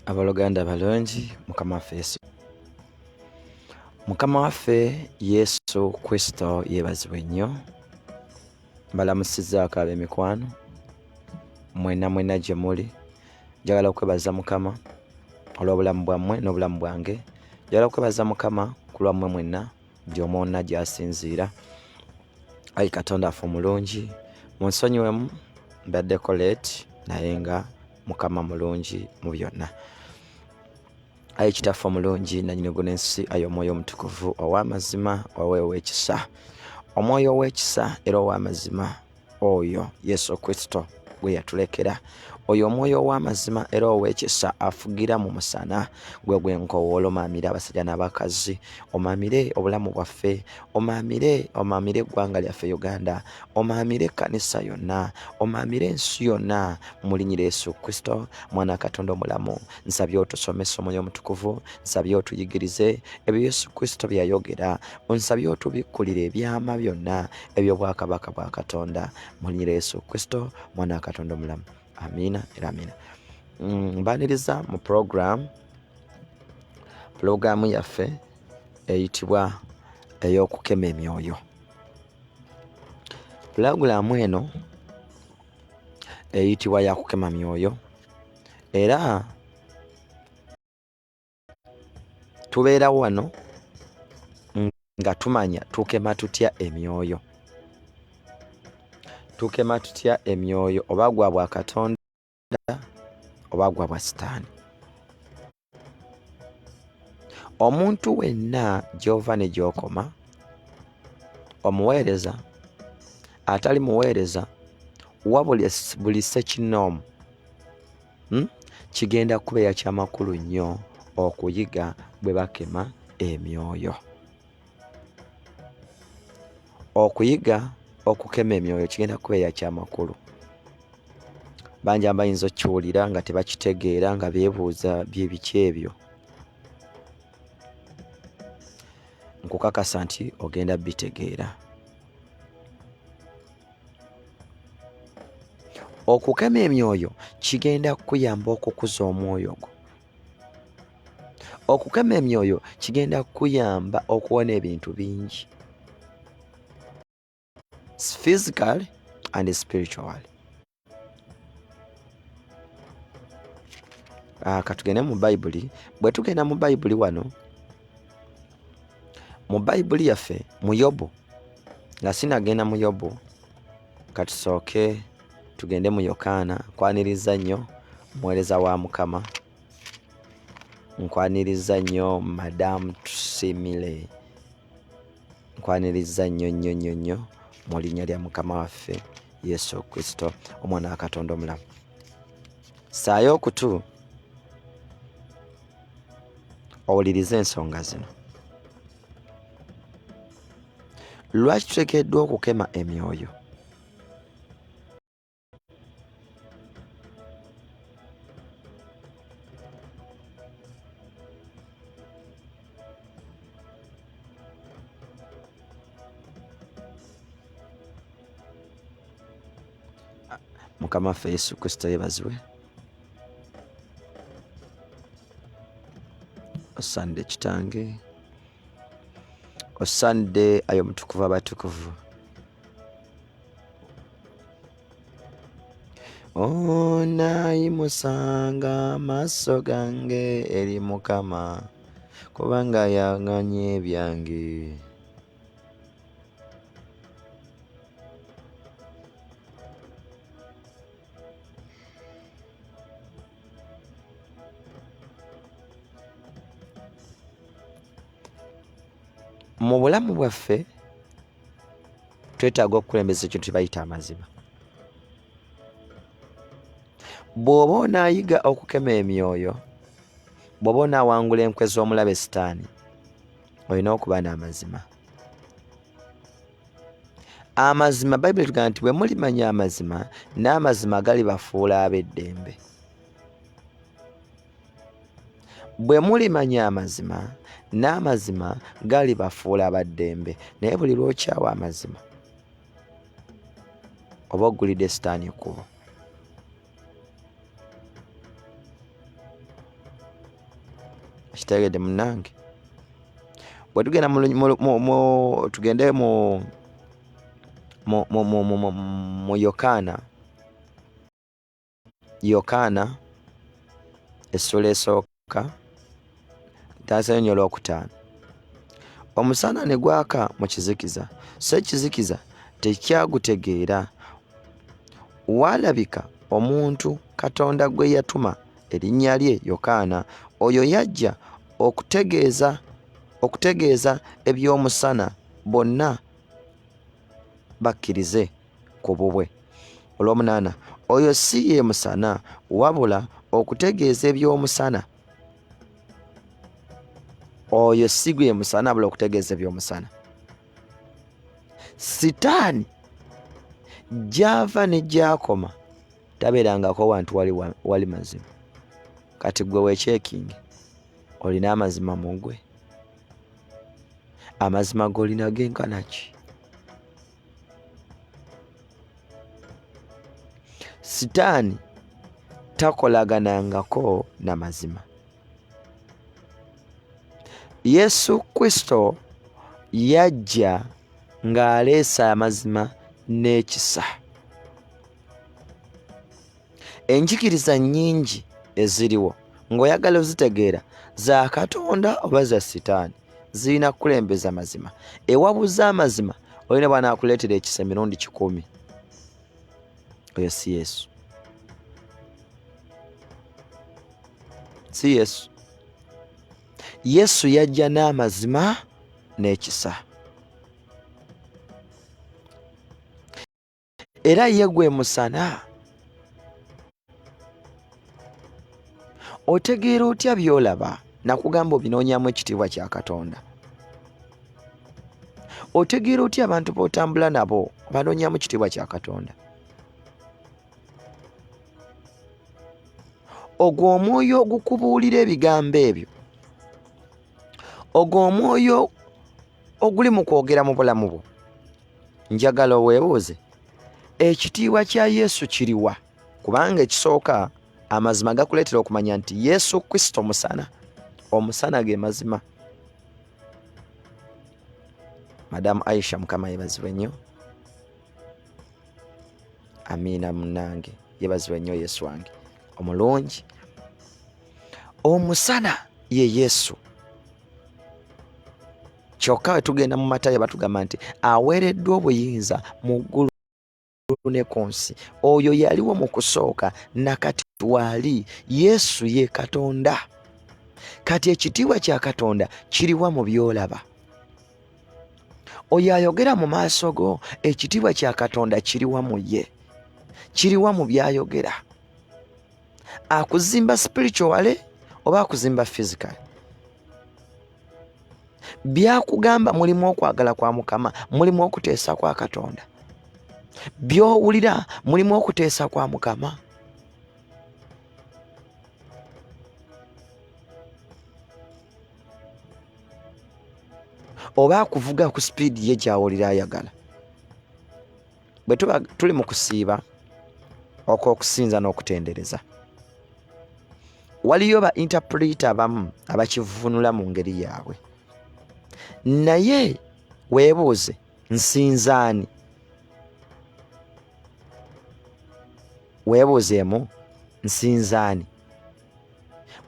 abaluganda balungi mukama waffe yesu mukama waffe yesu kristo yebazibwe nnyo mbalamusizaako ab'emikwano mwena mwena gye muli njagala okwebaza mukama olw'obulamu bwammwe n'obulamu bwange njagala okwebaza mukama ku lwammwe mwenna ndi omwonna gyasinziira ayi katonda affe omulungi munsonyiwemu mbaddeko late naye nga mukama mulungi mu byonna ayi kitaffe omulungi nanyini guna ensi ayi omwoyo omutukuvu ow'amazima waweewo ekisa omwoyo ow'ekisa era ow'amazima oyo yesu kristo gwe yatulekera oyo omwoyo ow'amazima era ow'ekisa afugira mu musana gwe gwe nkowoola omaamire abasajja n'abakazi omaamire obulamu bwaffe omaamire omaamire eggwanga lyaffe uganda omaamire ekkanisa yonna omaamire ensi yonna mulinyira yesu kristo mwana katonda omulamu nsabye otusomesa omwoyo omutukuvu nsabye otuyigirize ebyo yesu kristo bye yayogera onsabye otubikkulire ebyama byonna eby'obwakabaka bwa katonda mu linnya lya yesu kristo mwana wa katonda omulamu amiina era amiina Mm, mbaniriza mu pulogulaamu pulogulaamu yaffe eyitibwa ey'okukema emyoyo pulogulaamu eno eyitibwa yakukema myoyo era tubeera wano nga tumanya tukema tutya emyoyo tukema tutya emyoyo oba gwa bwa katonda oba gwa bwa sitaani omuntu wenna gy'ova ne gy'okoma omuweereza atali muweereza wa buli sekinoomu hmm? kigenda kubeera kyamakulu nnyo okuyiga bwe bakema emyoyo okuyiga okukema emyoyo kigenda kubeera kyamakulu bangi abayinza okukiwulira nga tebakitegeera nga beebuuza byebiki ebyo nkukakasa nti ogenda bitegeera okukema emyoyo kigenda kukuyamba okukuza omwoyo gwo okukema emyoyo kigenda kukuyamba okuwona ebintu bingi physical and spiritual ah, katugende mu bayibuli bwe tugenda mu bayibuli wano mu bayibuli yaffe mu yobu nga sinagenda mu yobu katusooke tugende mu yokaana nkwaniriza nnyo omuweereza wa mukama nkwaniriza nnyo madamu tusimile nkwaniriza nnyo nnyo nnyo nnyo mu linnya lya mukama waffe yesu kristo omwana wa katonda omulamu saayo okutu owulirize ensonga zino lwaki tutekeddwa okukema emyoyo mukama ffe yesu kristo yebazibwe osande kitange osande ayo mutukuvu abatukuvu onayimusanga amaaso gange eri mukama kubanga yanganye ebyange mu bulamu bwaffe twetaaga okukulembeza ekintu kyebayita amazima bw'oba onaayiga okukema emyoyo bw'oba onaawangula enkwe z'omulabe sitaani olina okuba n'amazima amazima bayibuli etugamba nti bwe mulimanya amazima n'amazima galibafuula ab'eddembe bwe mulimanya amazima n'amazima galibafuula abaddembe naye buli lwokyawa amazima oba ogulidde sitaani ekkubo kitegedde munange bwe tugenda tugende mu mu yokaana yokaana essula esooka ka taasa yo nyo olwokutaano omusana ne gwaka mu kizikiza so ekizikiza tekyagutegeera waalabika omuntu katonda gwe yatuma erinnya lye yokaana oyo yajja okutegeeza okutegeeza eby'omusana bonna bakkirize ku bubwe olwomunaana oyo si ye musana wabula okutegeeza ebyomusana oyo si gwe musana wabula okutegeeza ebyomusana sitaani gyava ne gyakoma tabeerangako wantu wali, wali mazima kati gwe wekyekingi olina amazima mu gwe amazima golina genkanaki sitaani takolaganangako na mazima yesu kristo yajja ng'aleesa amazima n'ekisa enjigiriza nnyingi eziriwo ng'oyagala ozitegeera za katonda oba za sitaani zirina kukulembeza mazima ewabuza amazima olina bwanaakuleetera ekisa emirundi kikumi oyo si yesu si yesu yesu yajja n'amazima n'ekisa era ye gwe musana otegeera otya byolaba nakugamba obinoonyamu ekitiibwa kya katonda otegeera otya abantu botambula nabo banoonyamu kitiibwa kya katonda ogwo omwoyo ogukubuulira ebigambo ebyo ogwo omwoyo oguli mu kwogera mu bulamu bwo njagala oweebuuze ekitiibwa kya yesu kiriwa kubanga ekisooka amazima gakuleetera okumanya nti yesu kristo musana omusana ge mazima madamu aisha mukama yebazibwe nnyo amiina munange yebazibwe nnyo yesu wange omulungi omusana ye yesu kyokka we tugenda mu matayo batugamba nti aweereddwa obuyinza mu ggulu ne ku nsi oyo yaliwo mu kusooka nakati waali yesu ye katonda kati ekitiibwa kya katonda kiriwa mu byolaba oyo ayogera mu maaso go ekitiibwa kya katonda kiriwa mu ye kiriwa mu byayogera akuzimba spirituale oba akuzimba physical byakugamba mulimu okwagala kwa mukama mulimu okuteesa kwa katonda byowulira mulimu okuteesa kwa mukama oba akuvuga ku sipiidi ye gyawulira ayagala bwe tuba tuli mu kusiiba okw'okusinza n'okutendereza waliyo ba intapulita abamu abakivunula mu ngeri yaabwe naye weebuuze nsinzaani weebuuzeemu nsinzaani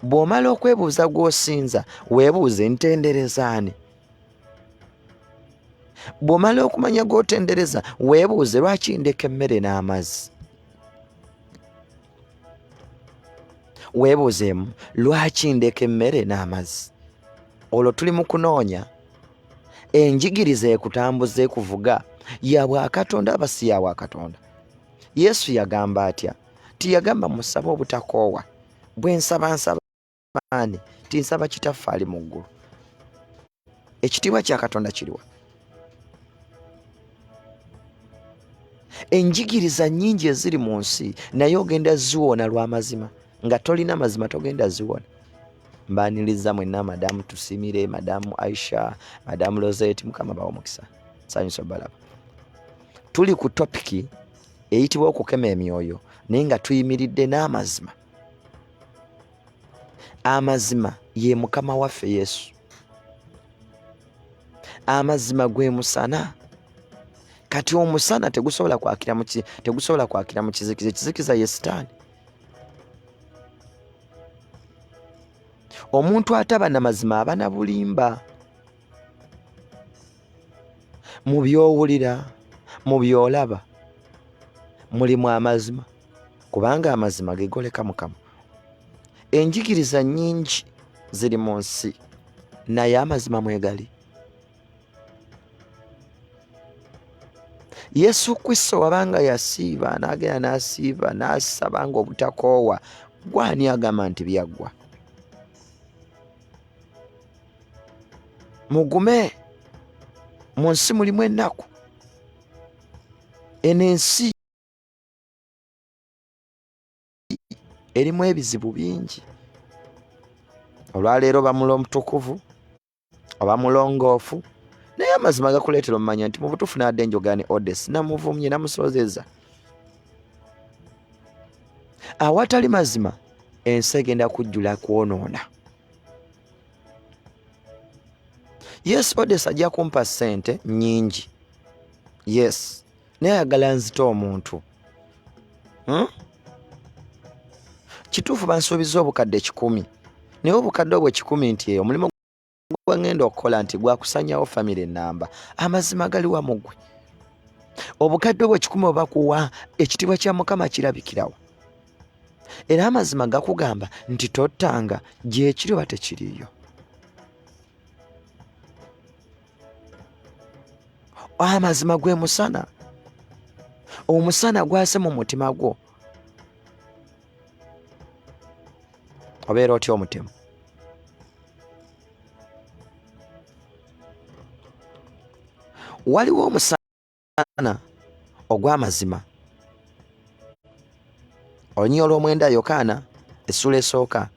bw'omala okwebuuza gw'osinza weebuuze ntenderezaani bw'omala okumanya g'otendereza weebuuze lwaki ndeka emmere n'amazzi weebuuzeemu lwaki ndeka emmere n'amazzi olwo tuli mu kunoonya enjigiriza ekutambuza ekuvuga ya bwakatonda aba si ya bwakatonda yesu yagamba atya tiyagamba musabe obutakoowa bwensaba nsaba amaani ti nsaba kitaffe ali mu ggulu ekitiibwa kya katonda kiriwa enjigiriza nyingi eziri mu nsi naye ogenda ziwona lw'amazima nga tolina mazima togenda ziwona mbaniriza mwenna madamu tusimire madamu aisha madamu lozet mukama bawa omukisa sanyusa balaba tuli ku topiki eyitibwa okukema emyoyo naye nga tuyimiridde n'amazima amazima ye mukama waffe yesu amazima gwe musana kati omusana tegusobola kwakira tegusobola kwakira mu kizikiza ekizikiza ye sitaani omuntu ataba na mazima aba na bulimba mu byowulira mu byolaba mulimu amazima kubanga amazima gegoleka mukama enjigiriza nyingi ziri mu nsi naye amazima mwegali yesu kristo wabanga yasiiba n'agenda n'asiiba n'asaba nga obutakoowa gwani agamba nti byaggwa mugume mu nsi mulimu ennaku eno ensi erimu ebizibu bingi olwaleero bamula omutukuvu oba mulongoofu naye amazima gakuleetera omumanya nti mu butuufu naadde enjogani odes namuvumye namusoozeza awatali mazima ensi egenda kujjula kwonoona yes odes ajja kumpa ssente nyingi yes naye ayagala nzita omuntu hmm? kituufu bansuubiza obukadde kikumi naye obukadde obwo kikumi nti eyo omulimu gwe ngenda okukola nti gwakusanyawo famire enamba amazima galiwa mugwe obukadde obwo kikumi obakuwa ekitiibwa kya mukama kirabikirawo era amazima gakugamba nti tottanga gyekiri oba tekiriyo amazima gwe musana omusana gwase mu mutima gwo obeera otya omutima waliwo omusana omusana ogw'amazima olunyiriri olw'omwenda yokaana essula esooka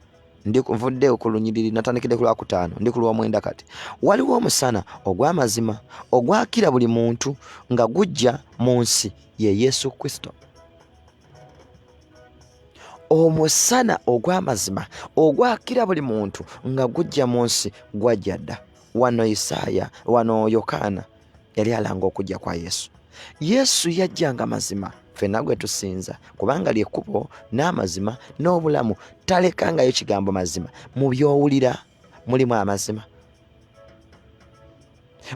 nvudde ku lunyiriri natandikidde ku lwakutaano ndi ku lw'omwenda kati waliwo omusana ogw'amazima ogwakira buli muntu nga gujja mu nsi ye yesu kristo omusana ogw'amazima ogwakira buli muntu nga gujja mu nsi gwajja dda wano isaaya wano yokaana yali alanga okujja kwa Yesu. Yesu yajja nga mazima ffenna gwe tusinza kubanga lyekkubo n'amazima n'obulamu. Talekangayo kigambo mazima mu by'owulira mulimu amazima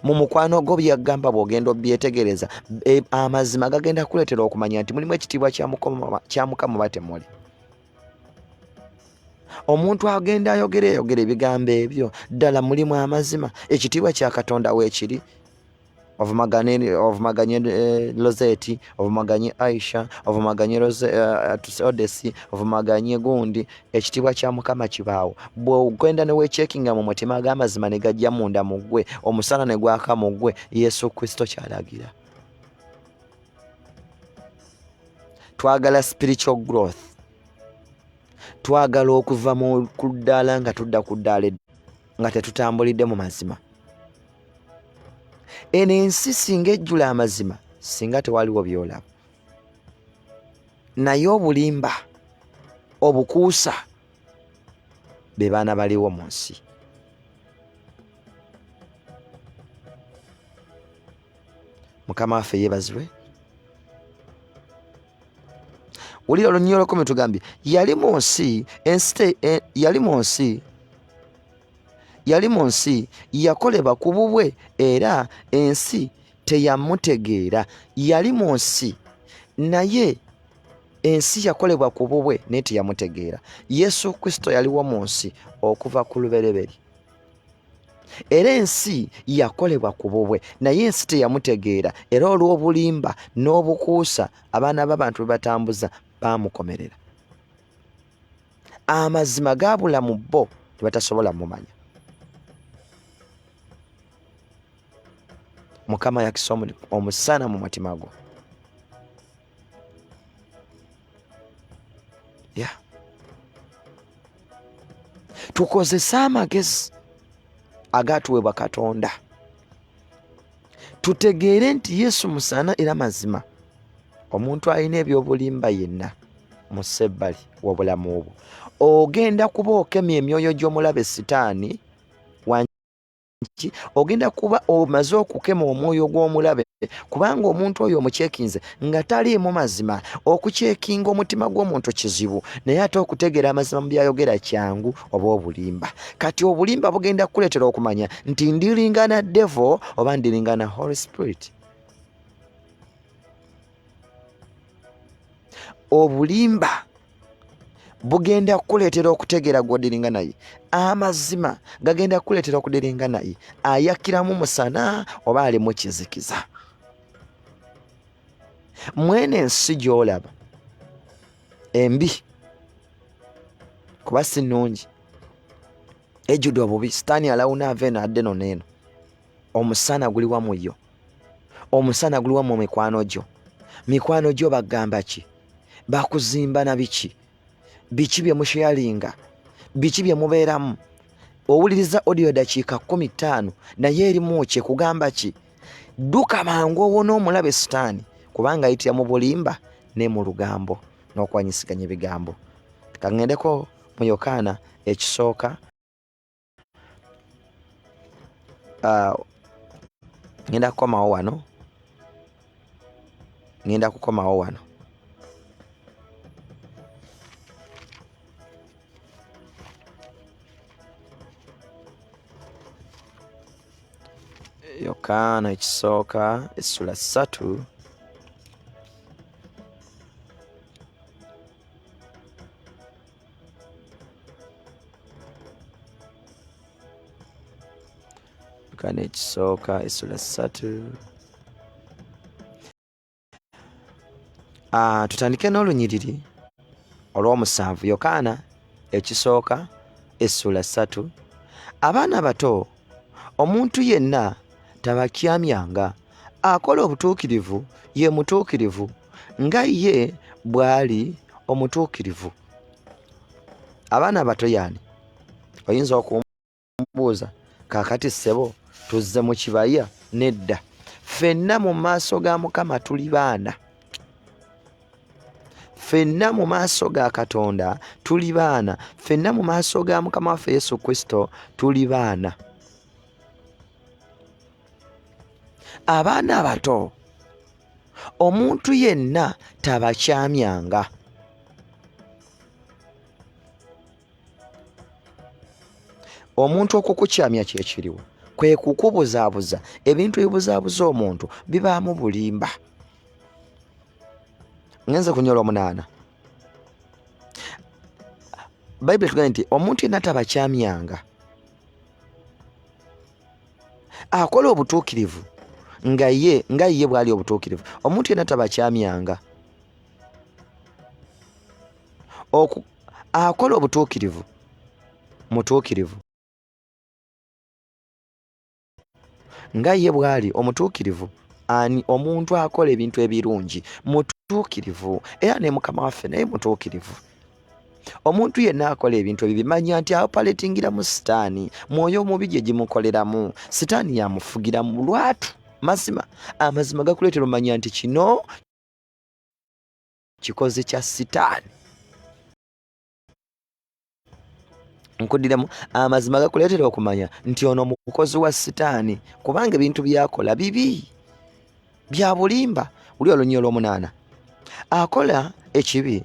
mu mukwano gwo byagamba bwogenda obyetegereza e, amazima gagenda kukuleetera okumanya nti mulimu ekitiibwa kya mukama batemuli omuntu agenda ayogera eyogera ebigambo ebyo ddala mulimu amazima ekitiibwa kya katonda weekiri ovumaganye ovumaganye eh, lozeti ovumaganye aisha ovumaganye eh, odesi ovumaganye gundi ekitiibwa kya mukama kibaawo bwogenda newekyekinga mu mutima ag'amazima ne gajja munda mu ggwe omusana ne gwaka mu ggwe yesu kristo kyalagira twagala spiritual growth twagala okuva mu kuddaala nga tudda ku ddaala nga tetutambulidde mu mazima eno ensi singa ejjula amazima singa tewaliwo byolaba naye obulimba obukuusa be baana baliwo mu nsi mukama waffe yebazibwe wulira olunyiolokome tugambye yali mu nsi ensi e, yali mu nsi yali mu nsi yakoleba ku bubwe era ensi teyamutegeera yali mu nsi naye ensi yakolebwa ku bubwe naye teyamutegeera yesu kristo yaliwo mu nsi okuva ku lubereberye era ensi yakolebwa ku bubwe naye ensi teyamutegeera era olw'obulimba n'obukuusa abaana b'abantu be batambuza baamukomerera amazima gaabula mu bo ne batasobola mumanya mukama yakisa omusana mu mutima gwo yeah. tukozese amagezi agatuweebwa katonda tutegeere nti yesu musaana era mazima omuntu alina ebyobulimba yenna mu sebbali wobulamu obwo ogenda kuba okemya emyoyo gy'omulabe sitaani nti ogenda kuba omaze okukema omwoyo gw'omulabe kubanga omuntu oyo omukyekinze nga taliimu mazima okukyekinga omutima gw'omuntu kizibu naye ate okutegeera amazima mu byayogera kyangu oba obulimba kati obulimba bugenda kukuleetera okumanya nti ndiringana devo oba ndiringana holy spirit obulimba bugenda kukuleetera okutegeera gw'odiringa naye amazima gagenda kukuleetera okudiringa naye ayakiramu musana oba alimu kizikiza mwene ensi gy'olaba embi kuba si nnungi ejjudde obubi sitaani alawuna ava eno adde no neeno omusana guli wamu yo omusana guli wamu mikwano gyo mikwano gyo bagamba ki bakuzimba na biki biki bye musheyalinga biki bye mubeeramu owuliriza odiyo dakiika kumi ttaano naye erimu kye kugamba ki dduka mangu owona omulabe sitaani kubanga ayitira mu bulimba ne mu lugambo n'okwanyisiganya ebigambo kang'endeko mu yokaana ekisooka uh, ngenda kukomawo wano ngenda kukomawo wano yokaana ekisooka essula ssatu kane ekisooka essula ssatu ah, tutandike n'olunyiriri olw'omusanvu yokaana ekisooka essula ssatu abaana bato omuntu yenna tabakyamyanga akola obutuukirivu ye mutuukirivu nga ye bw'ali omutuukirivu abaana abato yaani oyinza okumbuuza kaakati ssebo tuzze mu kibaya nedda ffenna mu maaso ga mukama tuli baana ffenna mu maaso ga katonda tuli baana ffenna mu maaso ga mukama waffe yesu kristo tuli baana abaana abato omuntu yenna tabakyamyanga omuntu okukukyamya kyekiriwo kwe kukubuzaabuza ebintu ebibuzaabuza omuntu bibaamu bulimba ngenze kunyola omunaana bayibuli tugambye nti omuntu yenna tabakyamyanga akola obutuukirivu nga ye nga ye bwali obutuukirivu omuntu yenna tabakyamyanga akola obutuukirivu mutuukirivu nga ye bwali omutuukirivu ani omuntu akola ebintu ebirungi mutuukirivu era ne mukama waffe naye mutuukirivu omuntu yenna akola ebintu ebyo bimanya nti apaletingira mu sitaani mwoyo omubi gye gimukoleramu sitaani yamufugira mu lwatu mazima amazima gakuleetera omanya nti kino kikoze kya sitaani nkudiremu amazima gakuleetera okumanya nti ono mukozi wa sitaani kubanga ebintu byakola bibi bya bulimba wuli olunyi olwomunaana akola ekibi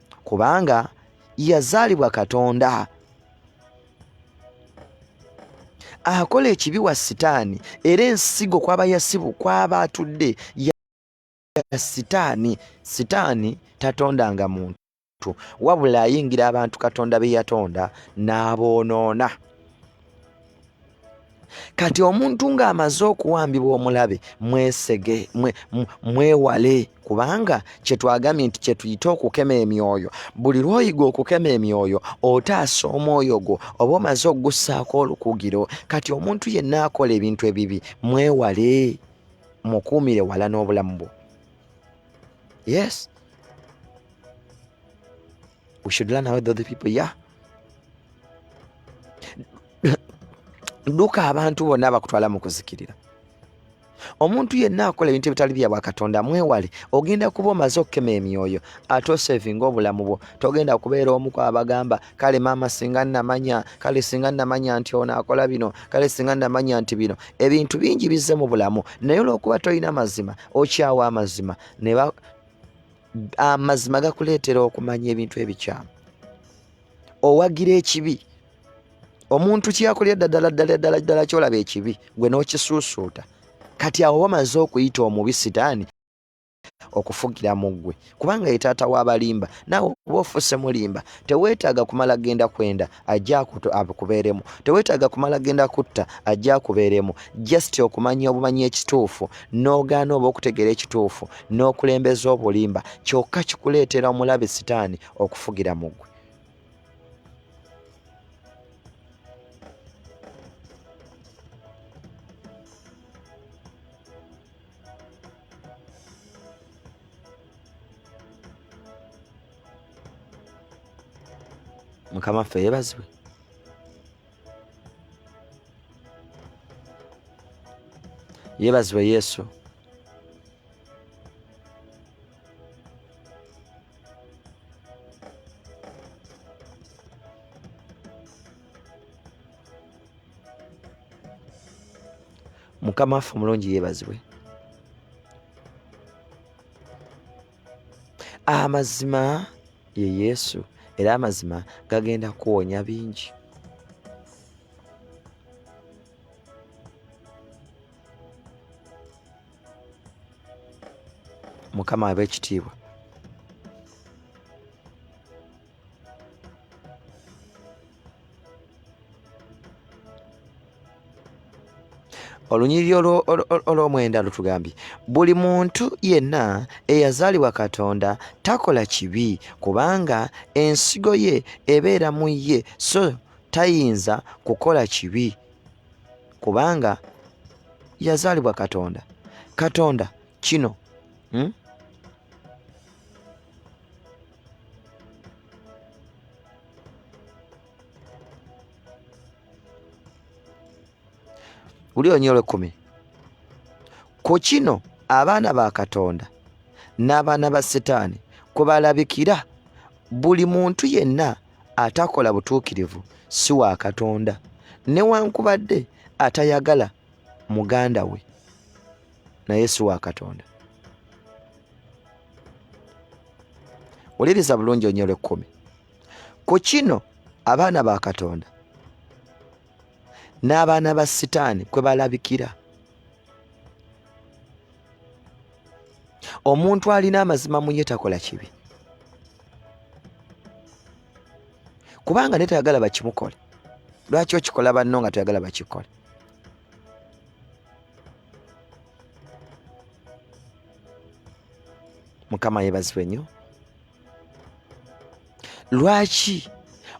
kubanga yazaalibwa katonda akola ekibi wa sitaani era ensigo kwaba yasibu kwaba atudde ya sitaani sitaani tatondanga muntu wabula ayingira abantu katonda be yatonda n'aboonoona kati omuntu ng'amaze okuwambibwa omulabe mwesege mwewale kubanga kyetwagambye nti kyetuyite okukema emyoyo buli lwoyiga okukema emyoyo otaasa omwoyo gwo oba omaze okugussaako olukugiro kati omuntu yenna akola ebintu ebibi mwewale mukuumire wala n'obulamu bwo yes we should learn how the other people yeah dduka abantu bonna bakutwala mu kuzikirira omuntu yenna akola ebintu ebitali bya bwakatonda mwewale ogenda kuba omaze okukema emyoyo ate osevinga obulamu bwo togenda kubeera omuku abagamba kale maama singa namanya kale singa namanya nti ono akola bino kale singa namanya nti bino ebintu bingi bizze mu bulamu naye olwokuba tolina mazima okyawa amazima amazima gakuleetera okumanya ebintu ebikyamu owagira ekibi omuntu kyakulya ddala ddala ddala ddala kyolaba ekibi gwe n'okisuusuuta kati awo bamaze okuyita omubi sitaani okufugira mu ggwe kubanga ye taata w'abalimba naawe okuba ofuuse mulimba teweetaaga kumala genda kwenda ajja akubeeremu teweetaaga kumala genda kutta ajja akubeeremu just okumanya obumanya ekituufu n'ogaana oba okutegeera ekituufu n'okulembeza obulimba kyokka kikuleetera omulabe sitaani okufugira mu gwe mukama ffe yebazibwe yebazibwe yesu mukama ffe omulungi yebazibwe amazima ye yesu era amazima gagenda kuwonya bingi mukama abekitiibwa olunyiriri olw'omwenda lutugambye buli muntu yenna eyazaalibwa katonda takola kibi kubanga ensigo ye ebeera mu ye so tayinza kukola kibi kubanga yazaalibwa katonda katonda kino hmm? wulira onyolo ekkumi ku kino abaana ba katonda n'abaana ba sitaani kwe balabikira buli muntu yenna atakola butuukirivu si wa katonda newankubadde atayagala muganda we naye si wa katonda wuliriza bulungi onyolo ekkumi ku kino abaana ba katonda n'abaana ba sitaani kwe balabikira omuntu alina amazima mu ye takola kibi kubanga naye tayagala bakimukole lwaki okikola banno nga toyagala bakikole mukama yebazibwe nnyo lwaki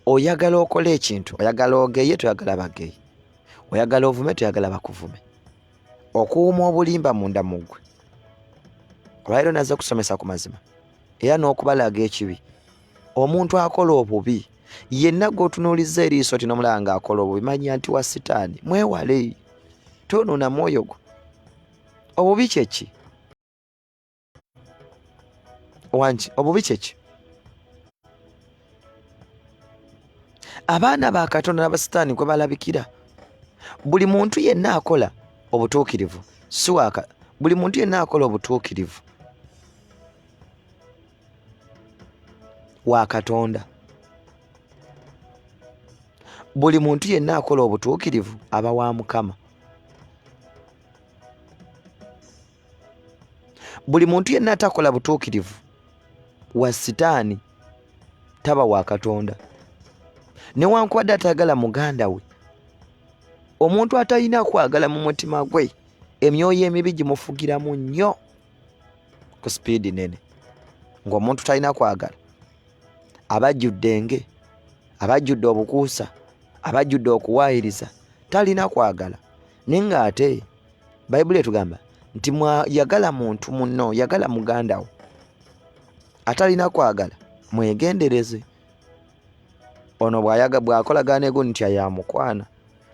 oyagala okola ekintu oyagala ogeye toyagala bageye oyagala ovume toyagala bakuvume okuwuma obulimba munda muggwe olwaliro naze okusomesa ku mazima era n'okubalaga ekibi omuntu akola obubi yenna gwotunuuliza eriiso ti nomulaba nga akola obubi manya nti wa sitaani mwewale tonuuna mwoyo gwo obubi kyeki wangi obubi kyeki abaana ba katonda nabasitaani kwe balabikira buli muntu yenna akola obutuukirivu siwaaka buli muntu yenna akola obutuukirivu wa katonda buli muntu yenna akola obutuukirivu aba wa mukama buli muntu yenna atakola butuukirivu wa sitaani taba wa katonda newankubadde atayagala muganda we omuntu atalina kwagala mu mutima gwe emyoyo emibi gimufugiramu nnyo ku sipiidi nene ng'omuntu talina kwagala abajjudde enge abajjudde obukuusa abajjudde okuwaayiriza talina kwagala naye ng'ate bayibuli etugamba nti yagala muntu munno yagala muganda wo atalina kwagala mwegendereze ono bwayaga bwakolagana egu nti yamukwana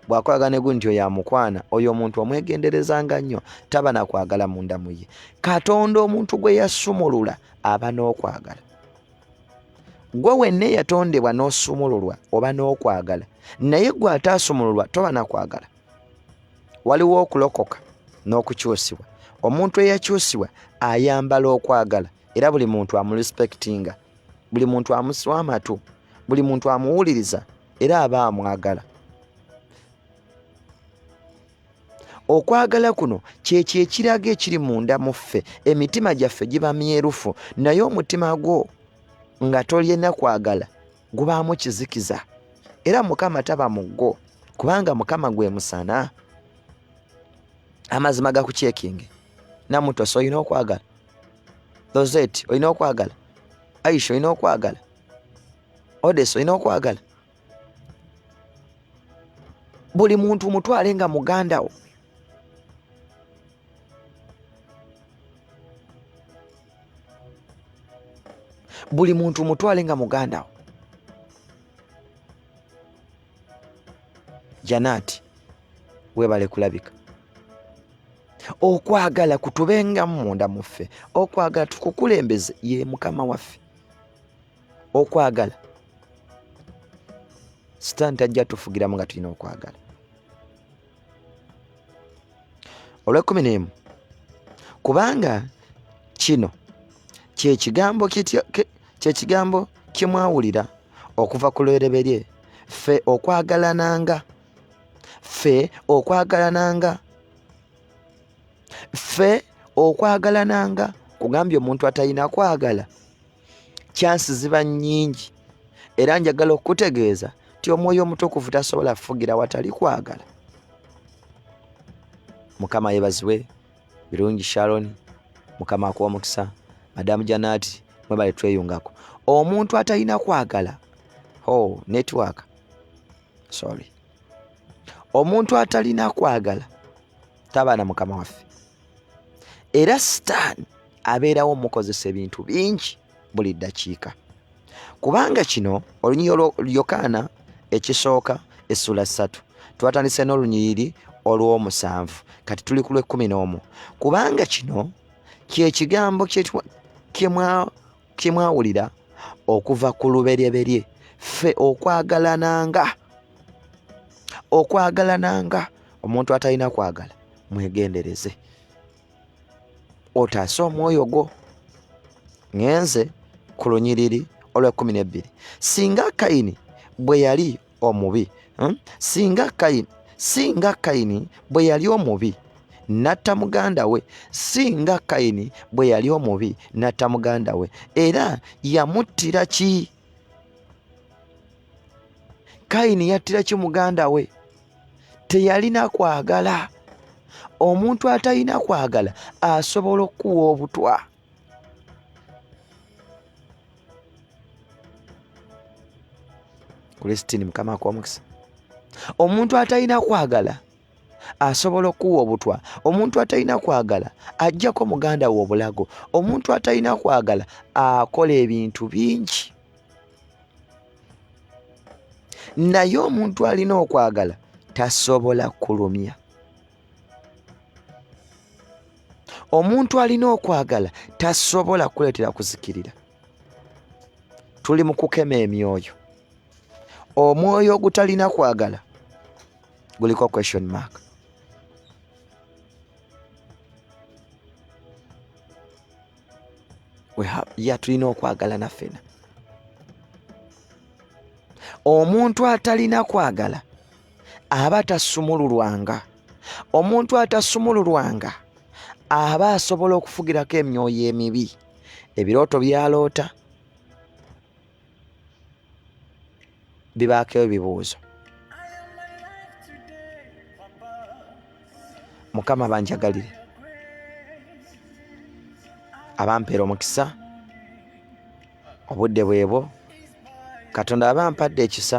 bwakolagana egu nti yamukwana oyo omuntu omwegenderezanga nnyo taba nakwagala munda muye katonda omuntu gwe yasumulula aba n'okwagala gwe wenna eyatondebwa n'osumululwa oba n'okwagala naye gwe ate asumululwa toba nakwagala waliwo okulokoka n'okukyusibwa omuntu eyakyusibwa ayambala okwagala era buli muntu amurespektinga buli muntu amuswa amatu buli muntu amuwuliriza era aba amwagala okwagala kuno kyekyo ekiraga ekiri munda mu ffe emitima gyaffe giba myerufu naye omutima gwo nga tolina kwagala gubaamu kizikiza era mukama taba mu gwo kubanga mukama gwe musana amazima gakukyekinge namutosa olina okwagala Rosette olina okwagala Aisha olina okwagala Odes olina okwagala buli muntu mutwale nga muganda wo buli muntu mutwale nga muganda wo janaati webale kulabika okwagala kutubenga munda muffe okwagala tukukulembeze ye mukama waffe okwagala sitaani tajja tufugiramu nga tulina okwagala olwekumi n'emu kubanga kino kyekigambo kyekigambo kye mwawulira okuva ku lwereberye ffe okwagalananga ffe okwagalananga ffe okwagalananga kugambye omuntu atalina kwagala kyansi ziba nnyingi era njagala okukutegeeza nti omwoyo omutukuvu tasobola kufugira watali kwagala mukama yebazibwe birungi sharon mukama akuwa omukisa madamu janati mwebale tweyungako omuntu atalina kwagala ho oh, network sorry omuntu atalina kwagala tabaana mukama waffe era sitaani abeerawo mukozesa ebintu bingi buli ddakiika kubanga kino olunyiriri olw'Yokaana ekisooka essula ssatu twatandise n'olunyiriri olw'omusanvu kati tuli ku lw'ekkumi n'omu kubanga kino kye kigambo kye mwa kyemwawulira okuva ku luberyeberye ffe okwagalananga okwagalananga omuntu atalina kwagala mwegendereze otaase omwoyo gwo ngenze ku lunyiriri olwekumi nebbiri singa kayini bwe yali omubi hmm? singa kayini singa kayini bwe yali omubi natta muganda we singa kayini bwe yali omubi natta muganda we era yamuttira ki kayini yattira ki muganda we teyalina kwagala omuntu atalina kwagala asobola okukuwa obutwa kulesitini mukama akuwa omukisa omuntu atalina kwagala asobola okuwa obutwa omuntu atalina kwagala ajjako muganda we obulago omuntu atalina kwagala akola ebintu bingi naye omuntu alina okwagala tasobola kulumya omuntu alina okwagala tasobola kuleetera kuzikirira tuli mu kukema emyoyo omwoyo ogutalina kwagala guliko question mark ya tulina okwagala naffena omuntu atalina kwagala aba tasumululwanga omuntu atasumululwanga aba asobola okufugirako emyoyo emibi ebirooto byaloota bibaako ebibuuzo mukama banjagalire abampeera omukisa obudde bwebwo katonda aba ampadde ekisa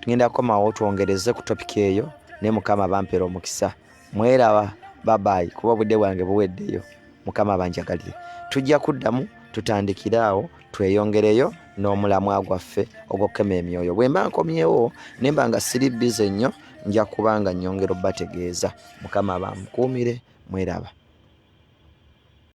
tugenda komawo twongereze ku topiki eyo ne mukama bampera omukisa mweraba babayi kuba obudde bwange buweddeyo mukama banjagalire tujja kuddamu tutandikire awo tweyongereyo n'omulamwa gwaffe ogwokukema emyoyo bwe mba nkomyewo ne mba nga siri bize nnyo nja kuba nga nnyongera obategeeza mukama bamukuumire mweraba